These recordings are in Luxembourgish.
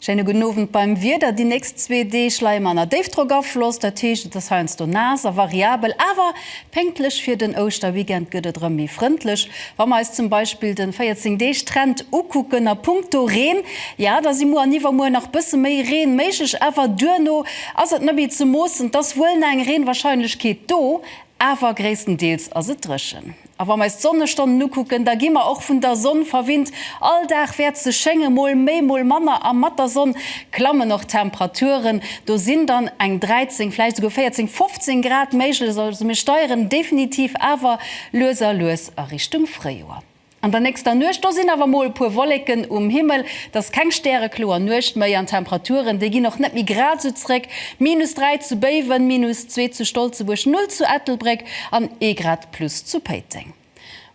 Schéine gudden Owend. Beim Wieder, Déi nächst zwee Deeg leie mer ënner Déifdrockafloss, dat heescht et ass heiansdo naass a variabel, awer Pénktlech fir den Ouschterweekend gëtt et erëm méi frëndlech. Wa mer eis zum Beispill de 14 Deeg Trend ukucken a punkto Reen, ja da si muer an iwwermuer nach bësse méi Reen méiglech, awer duerno ass et net méi ze moossen. Et ass wuel nach eng Reenwahrscheinlechkeet do, awer gréisstendeels ass et dréchen. A wa mer eis d'Sonnestonnen ukucken, da gi mer och vun der Sonn verwinnt. All Dag wäert se schéngen, mol méi mol manner, a mat der Sonn klammen och d'Temperaturen. Do sinn dann eng 13, vläicht esouguer 14, 15 Grad méiglech. Also mir steieren definitiv awer lues a lues a Richtung Fréijoer. An der nächster Nuecht, do sinn awer mol e puer Wolleken um Himmel. Et ass keng stärekloer Nuecht méi an d'Temperaturen, déi ginn och net méi grad esou zréck. Minus 3 zu Béiwen, minus zwee zu Stolzebuerg, null zu Ettelbréck an ee Grad plus zu Péiteng.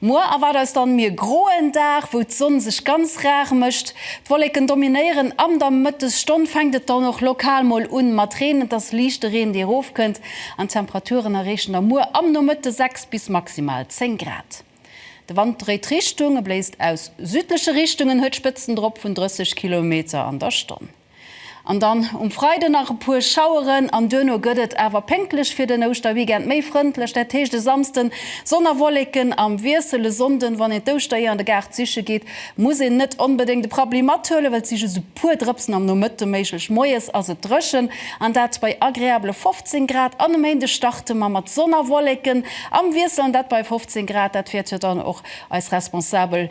Muer erwaart eis dann mir groen Dag, wou d'Sonn sech ganz rar mécht. D'Wolleken dominéieren, am der Mëttesstonn fänkt et dann och lokal mol un mat Reen. Et ass liichte Reen dee rof kënnt an d'Temperaturen erreechen da muer am Nomëtte 6 bis maximal 10 Grad. De Wand dréit Richtung, e bléist aus südleche Richtungen, huet Spëtzen drop vun 30 Kilometer an der Stonn. An dann um Freide nach e puer Schaueren an duerno gëtt et awer pénktlech fir den Ouschterweekend méi frëndlech. Dat heescht, e Samsden Sonn a Wolleken am Wiessel. E Sonnden, wann een d'Ouschtereeër an de Gaart siche geet, muss een net onbedéngt e Prabbli mathuelen, well et si just e puer Drëpsen am Nomëtte méiglech. Moies ass et dréchen an dat bei agreabele 15 Grad an e Méinde starte mer mat Sonn a Wolleken am Wiessel an dat bei 15 Grad. Dat wäert jo dann och eis Responsabel